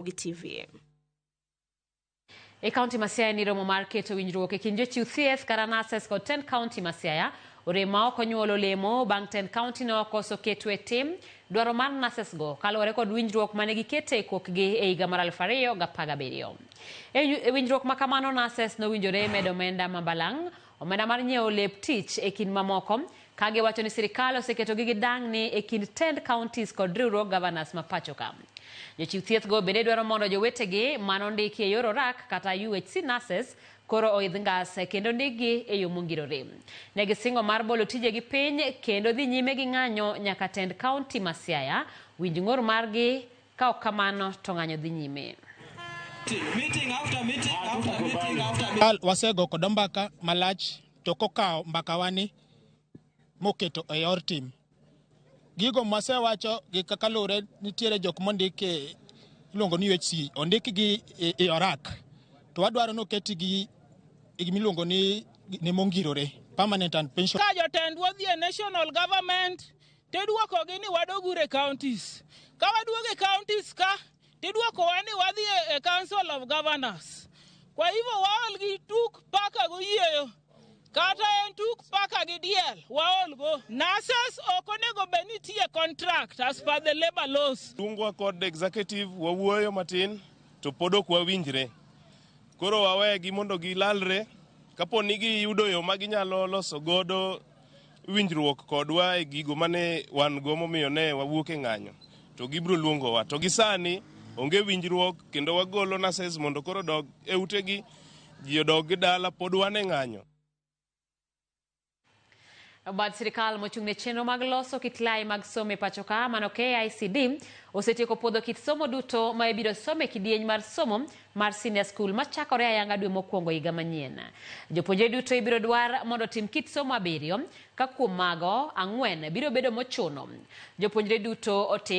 Ramogi TV. E kaunti ma Siaya ni romo mar keto winjruok e kind jochiw thieth kata nurses kod Ten County ma Siaya orem ma ok onyuolo olemo bang' Ten County ne okoso keto e tim dwaro mar nurses go kaluwore kod winjruok mane gikete e kokgi e higa mar 2017. E winjruok ma kamano nurses nowinjore medo omenda ma balang' omenda mar nyiewo lep tich e kind mamoko, ka giwacho ni sirkal oseketogi gi dang'ni e kind tend counties kod riwruog governors ma pachoka. Jochiw thiethgo bende dwaro mondo jowetegi ma nondiki e yor orak kata UHC nurses koro oidh ngas kendo ndikgi e yo mongirore. Ne gisingo mar bolo tijegi piny kendo dhi nyime gi ng'anyo nyaka tend county ma Siaya winj ng'ur margi Ka ok kamano to ng'anyo dhi nyime. Kal wasego kodo mbaka malach to kokawo mbakawani moketo e yor tim. Gigo mwasewacho gi kaka lure nitiere jok mondik e iluongo ni UHC ondik gi e- e orak to wadwaro ni oketi gi gi gimiluongo ni ni mongirore permanent and pension ka jotendwa odhi e national government Tidwokogi ni wadogure e counties. Ka waduogo e counties ka, tidwokowa ni wadhi e, e Council of Governors. Kwa hivyo waol gi tuk paka goyieyo kata en tuk paka gi diel waolgo. Nurses ok onego bed ni tiye contract as per the labor laws. Tungwa kod executive wawuoyo matin to pod ok wawinjre. Koro wawegi mondo gilalre kapo ni giyudo yo ma ginyalo loso godo winjruok kodwa e gigo mane wan go momiyo ne wawuok e ng'anyo to gibiro luongowa to gisani onge winjruok kendo wagolo nases mondo koro dog e utegi ji odog gi dala pod wan e ng'anyo Bad sirkal mochung' ne chenro mag loso kit lai mag somo e pacho ka mano KICD osetieko puodho kit somo duto ma ibiro som e kidieny mar somo mar Senior School ma chakore ayanga dwe mokwongo higa manyien. Jopuonjre duto ibiro dwar mondo otim kit somo abiriyo, ka kuom mago, ang'wen biro bedo mochuno. Jopuonjre duto otim.